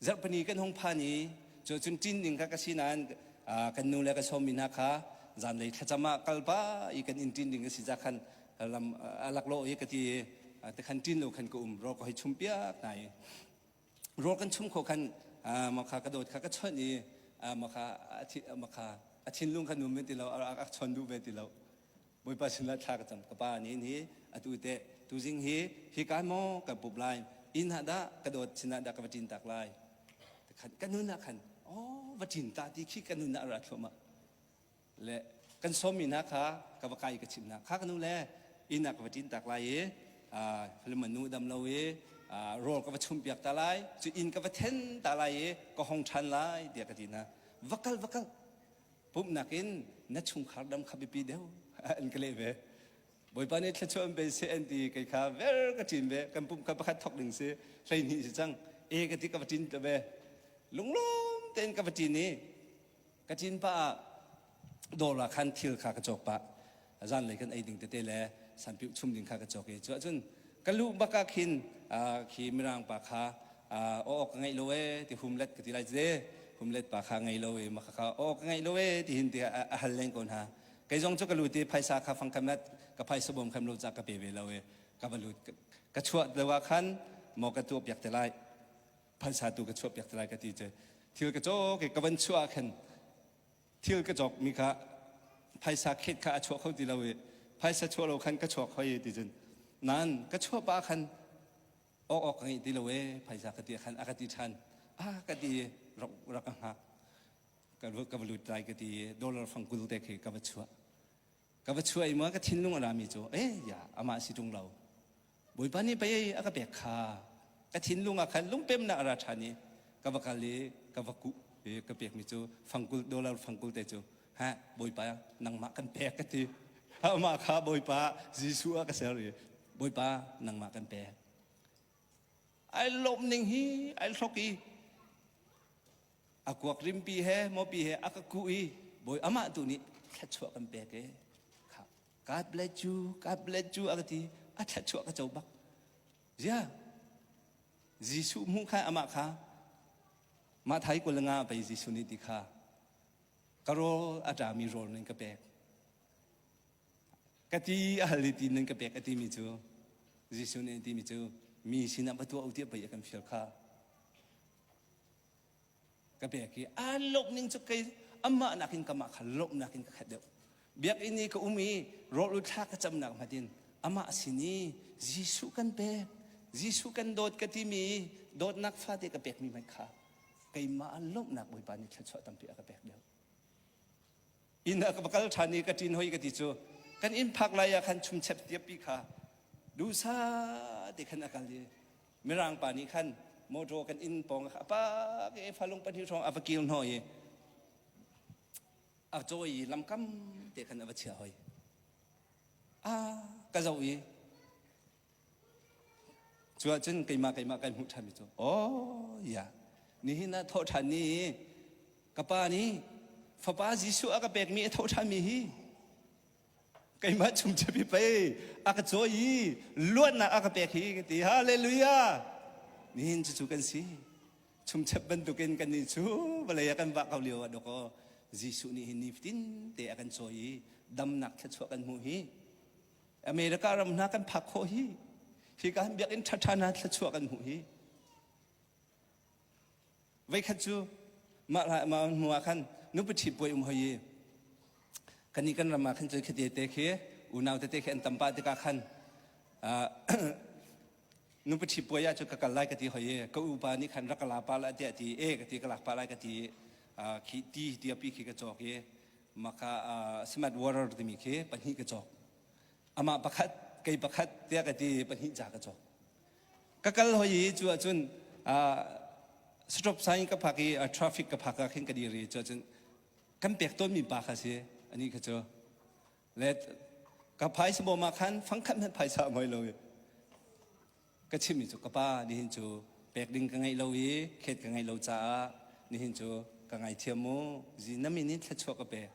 Zarhpini kan hung phan i cu cun ṭin ding kha ka si nain kan nu le ka sawmmi hna kha zanlei thlacam ah kal pa i kan inn ṭin ding a si cah khan lam a laklawh i ka ti i tikhan ṭin lo khan ka um, rawk ka hoi chum piak hna i rawl kan chum kho khan makha ka dawt kha ka chawnh i makha makha a thinlung khan um ve ti lo a chawn duh ve ti lo bawipa sinah thla ka cam ka pa nih hi atu te tuzing hi hi kan mo ka pup lai inn ha dah ka dawt sinah dah ka va cin tak lai khan ka nun ah khan aw va cin ta ti khi ka nun ah ra thluama le kan sawmmi hna kha ka va kai i ka chimh hna kha ka nu le inn ah ka va ṭintak lai i manu dam lo i rawl ka va chumpiak ta lai cu inn ka va then ta lai i ka hong ṭhan lai tiah ka ti hna va kal va kal pumhnak in na chungkhar dam kha biapi deuh an ka leh ve bawipa nih thluachuah an pe se an ti kai kha ver ka ṭin ve kan pumh kha pakhat thok ding si hlei hnih si cang e ka ti ka va ṭin te ve lunglawm tein ka va ṭin i ka cin pah ah dawr ah khan thil kha ka cawk pah zan lei khan ei ding tete le sanpilh chum ding kha ka cawk i cu ahcun ka lu bak ah khin khi mirang pa kha aw ka ngaih lo e ti humlet ka ti lai ce humlet pa kha ngei lo e maka kha aw ka ngaih lo e ti hin ti a hal len ko hna kei zong cu ka lut i phaisa kha fang kham let ka phaisa bom kham lo ca ka pe ve lo e ka balut ka chuah deuh ah khan mo ka tuap yak te lai phaisa tu ka chuahpiak te lai ka ti ce thil ka cawk i ka van chuah khan thil ka cawk mi kha phaisa khet kha a chuah kho ti lo i phaisa chuah lo khan ka chuak hoi ti cun nan ka chuah pa khan ok ok ka ngi ti lo e phaisa ka ti khan a ka ti than a ka ti rak rak ka hngak ka ka va lut lai ka ti dollar fang kul te khi ka va chuah ka va chuai ma ka thinlung a rami cu eh ya amah si ṭung lo bawipa nih pei a ka pek kha ka thinlung ah khan lungpemnak a ra ṭhan i ka va kal i ka va kuh i ka pekmi cu fangkul dollar fangkul te cu ha bawipa nangmah kan pek ka ti amah kha bawipa Jesuh a ka ser i bawipa nangmah kan pek ai lawmh ning hi ai hlok i a kuak rimpi he mopi he a ka kuh i bawi amah tu nih thluachuah kan pek e kha god bless you god bless you a ka ti a thluachuah ka co bak zia Jesuh hmu kha amah kha mah thai kul nga pei Jesuh nih ti kha ka rawl a ṭami rawl ning ka pek ka ti a hal i ti nan ka pek a timi cu Jesuh nih a timi cu mi sinah va tuah u tiah pei a kan fial kha ka bek i aan lawmhning cu kei amah nakin kamah kha lawmhnak in ka khat deuh. Biakinn i ka um i rawlul thla ka camnak hngat in amah a sin i Jesuh kan pek, Jesuh kan dawt ka timi dawtnak fate ka pekmi hmanh kha keimah lawmhnak Bawipa nih thluachuah tampi a ka pek deuh. inn ah ka va kal ṭhan i ka ṭin hoi ka ti cu kan inn phak lai ah khan chumchep tiappi kha duhsah te khan a kal i mirang pa nih khan motor kan inn pawng kha a pak i falung pahnih hrawng a va kir hnawh i a cawi i lamkam te khan a va chia hoi a ka zoh i Cu ahcun keimah keimah kan hmuh ṭhanmi cu aw ya nihin ah thawh ṭhan ni ka pa nih fapa Jesuh a ka pekmi a thawh ṭhanmi hi keimah chung chiapi pei a ka cawi i luatnak a ka pek hi ka ti halleluja nihin cucu kan si chumchep bantukin kannih cu vawlei ah kan vah ko lio ah dawk aw Jesuh nih hi nifatin te a kan cawi i damnak thluachuah kan hmuh hi America ram hna kan phak khawh hi hika han biakinn ṭhaṭha hna thluachuah kan hmuh hi veikhat cu mah hnu ah khan nupi ṭhi puai um hoi i kani kan ram ah khan cun khati te khi unau tete khi an tam pa tikah khan nupi ṭhi puai ah cu ka kal lai ka ti hoi i ka upa nih khan rak ka la pa la tiah ti e ka ti ka lak pa lai ka ti khi ti tiapi khi ka cawk i maka uh, simat warer timi khi pahnih ka cawk amah pakhat kei pakhat tiah ka ti pahnih ca ka cawk ka kal hoi i cu ahcun uh, stop sign ka phak i uh, traffic ka phak ah khin ka dir i cu ahcun kan pek tawnmi pa kha si ani kha cu let ka phai sabawm ah khan fangkhat nan phaisa ngoi lo i ka chimmi cu ka pa nihin cu pek ding ka ngeih lo i thlet ka ngeih lo caah nihin cu ka ngaithiam mu zi na min in thluachuah ka pek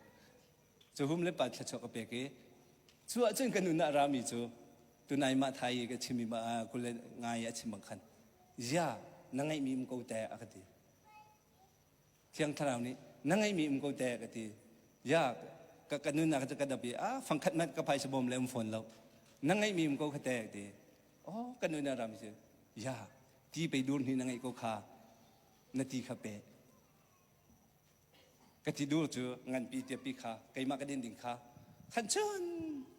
cu hum le pa thluachuah ka pek i cu ahcun ka nun ah rami cu tunai mah thai i ka chim i mah kule ngai a chim bang khan zia na ngeihmi um ko teh a ka ti Thiang Thlarau nih, Na ngeihmi um ko teh, ka ti. Ya, ka, ka nunnak cu ka dap i, a fangkhat hmanh ka phaisa bawm le um fawn lo. Na ngeihmi um ko kha teh, ka ti. Oh, ka nun a ram cu, ya, ti pei dur hnih na ngeih ko kha, na ti kha pe. Ka ti dur cu nganpi tiapi kha, keimah ka din ding kha, khan chun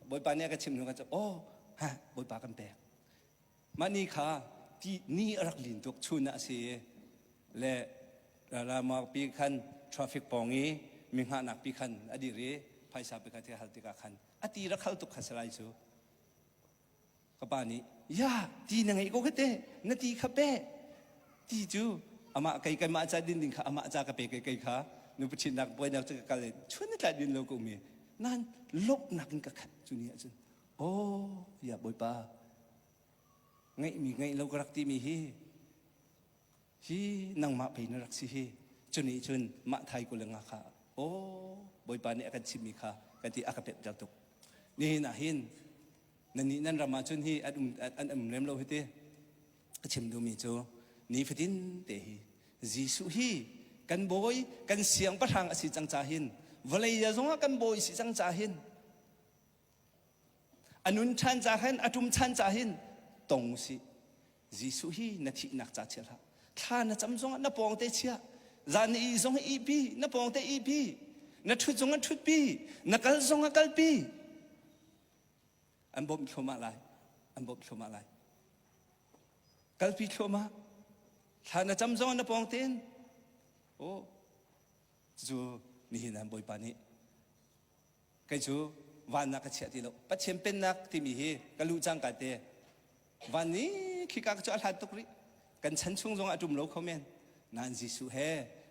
Bawipa nih a ka chimh hnu khan cu, oh, ha, Bawipa kan pek. Mah ni kha ni a rak lin tuk chun ah a si i le ralralmang pi khan traffic pawng i mingahnak pi khan a dir i phaisa pi kha thil hal tikah khan a ti rak hal tuk kha si lai cu ka pa nih ya ti na ngeih ko hei te na ti kha pe ti cu amah kei keimah ca din ding kha amah ca ka pe kai kei kha nu pathinnak buainak cu ka kal chun na tla din lo ko mi nan lawmhnak in ka khat cu ni ah cun Aw, tiah Bawipa, ngeihmi ngeih lo ka rak timi hi, hi nangmah pei na rak si hi, cu nih cun mah thai kule nga kha, aw, Bawipa nih a kan chimhmi kha ka ti a ka pemhter tuk. Nihin ah hin, nannih nan ram ah cun hi an um, an um lem lo hi ti, a chim duhmi cu, nifatin te hi, Jesuh hi kan bawi, kan siangpahrang a si cang ca hin, vawlei zongah kan bawi si cang ca hin, A nun chan ca hin a ṭum chan ca hin tong u sih. Jesuh hi na thihnak ca chia hlah. Thla na cam zongah na pawng te chia. Zan i zong i pi, na pawng te i pi. Na ṭhut zongah ṭhut pi. Na kal zongah kal pi. An bawmh thluamah lai. An bawmh thluamah lai. Kalpi thluamah. Thla na cam zongah na pawng tein. Oh, cucu nihin an Bawipa nih kei cu vannak ka chiah ti lo. Pathian pennak timi hi ka luh cangka te van ni khika cu a hlan tuk rih. Kan chan chung zongah a ṭum lo kho men. Nain Jesuh he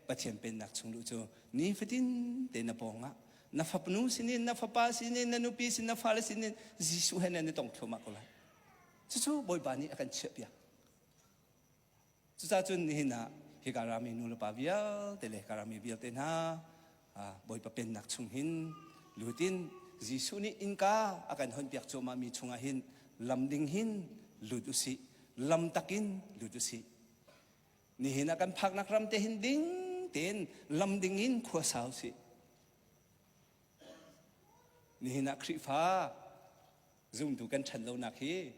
Pathian pennak chung luh cu nifatin te na pawngah na fapnu sinin, na fapa sinin, na nupi sin, na fale sinin Jesuh he nan i tong thluahmah ko lai. Cucu Bawipa nih a kan chiahpiak. Cucacun nihin ah hi ka rami nulepa vialte le ka rami vialte hna Bawipa pennak chung hin lut in Jesuh nih innka a kan honpiak cuahmahmi chungah hin lam ding hin lut usih lam takin lut usih nihin ah kan phaknak ram te hin ding tein lam ding in khua sa usih nihin ah Khrihfa zumtu kan ṭhan lonak hi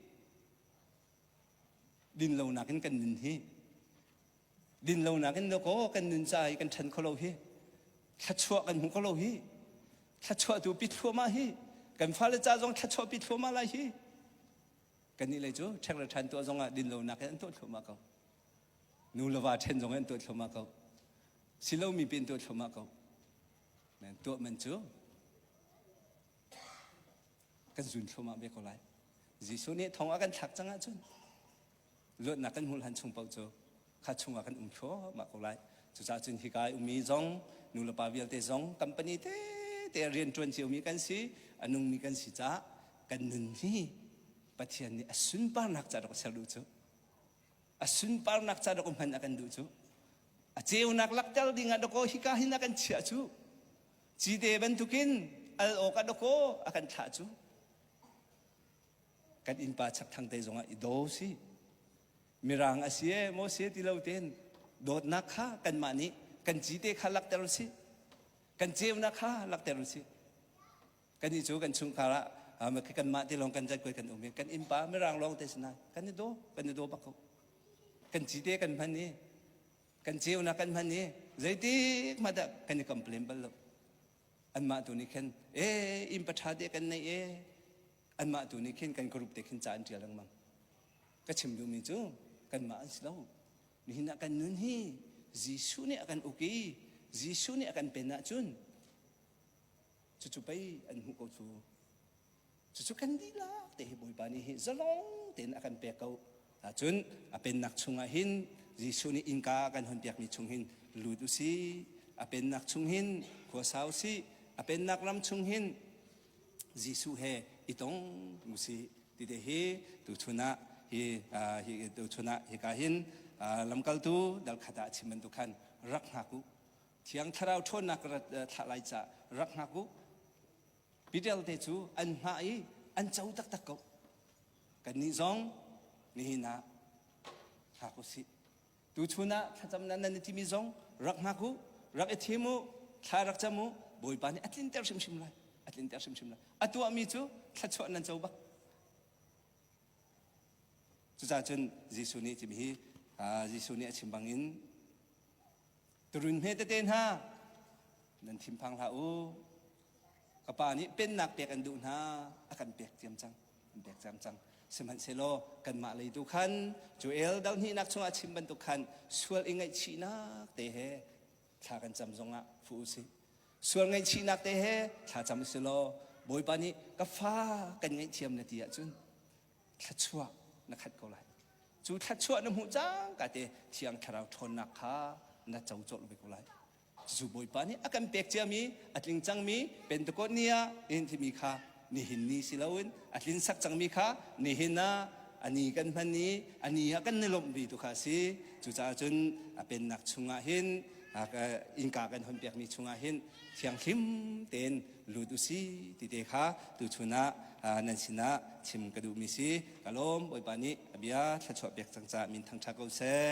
dinlonak in kan nun hi dinlonak in lakaw kan nun ca i kan ṭhen kho lo hi thluachuah kan hmu kho lo hi thluachuahtu pitthluama hi kan fale ca zong thluachuah pitthluama lai hi kannih lei cu ṭheng le ṭhan tuah zong ah dinlonak in an tuah thluama ko nu le va ṭhen zong in an tuah thluama ko silomi pe in tuah thluama ko tuah man cu kan zun thluamah ve ko lai. Jesuh nih thong a kan thlak cang ahcun luatnak kan hmuh hlan chung paoh cu kha chungah kan um thluahmah ko lai. Cucaah cun hika i ummi zong nulepa vialte zong company tete rian ṭuan ciomi kan si, a nungmi kan si caah kan nun hi Pathian nih a sunparnak ca rak ser duh cu. A sunparnak ca rak hman a kan duh cu. A ceunak lakter dingah dakaw hika hin a kan chiah cu. Cite bantukin al awk a dawkaw a kan thlah cu kan innpa chakthang te zongah i do si mirang a si e maw se ti lo ten dawtnak kha kanmah nih kan cite kha lakter si kan ceunak kha lakter si kan i cu kan chungkar ah khi kanmah te lawng kan zat kuai kan um i kan innpa mirang lawng te sina kan i do kan i do bak ko kan cite kan hman i kan ceunak kan hman i zeitik hmat ah kan i complain bal lo anmah tu nih khin e inn paṭha te kan nei e anmah tu nih khin kan group te khin ca an ṭial lengmang ka chim duhmi cu kanmah an si lo nihin ah kan nun hi Jesuh nih a kan uk i Jesuh nih a kan pen ahcun Cucu pei an hmuh ko cu. Cucu kan dihlak te hi Bawipa nih hi zalong tein a kan pek ko ahcun a pennak chungah hin Jesuh nih innka a kan honpiakmi chung hin lut u sih. A pennak chung hin khua sa u sih. A pennak ram chung hin Jesuh he i tong u sih tite hi tuchun ah hi tuchun ah hika hin lamkaltu dal khat ah a chim bantuk khan rak hngak u Thiang thlarau ṭhawnnak ka rat thlah lai ca rak hngak u. Pidelte cu an hngah i an co taktak ko. Kannih zong nihin ah hngak u sih. Tuchun ah thlacam nan nan i timi zong rak hngak u, rak i thim u, thla rak cam u. Bawipa nih a tlinter hrimhrim lai. A tlinter hrimhrim lai. A tuahmi cu thluachuah nan co bak. Cucaah cun Jesuh nih cimi hi Jesuh nih a chim bangin Turun hme tete hna nan thinphang hlah u. Ka pa nih pennak pek an duh hna a kan pek ciam cang an pek ciam cang sihmanhsehlaw kanmah lei tu khan Joel dohnihnak chungah chim bantuk khan sual i ngaihchihnak te he thla kan cam zongah fu u sih sual ngaihchihnak te he thla cam u si law Bawipa nih ka fa kan ngaihthiam le ti ahcun thluachuah na khat ko lai. Cu thluachuah na hmuh cangka te Thiang Thlarau ṭhawnnak kha na co colh ve ko lai. Jesuh Bawipa nih a kan pek ciami, a tling cangmi Pentecost ni ah nihin timi kha nihin ni si loin a tlinsak cangmi kha nihin ah a ni kan hman i a ni ah kan ni lawmh ve tu kha a si. Cucaah cun a pennak chungah hin innka kan hon pekmi chungah hin thianghlim tein lut usi ti te kha tuchun ah nan sinah chim ka duhmi si ka lawm bawipa nih bia thluachuah pek cang ca min thangṭha ko seh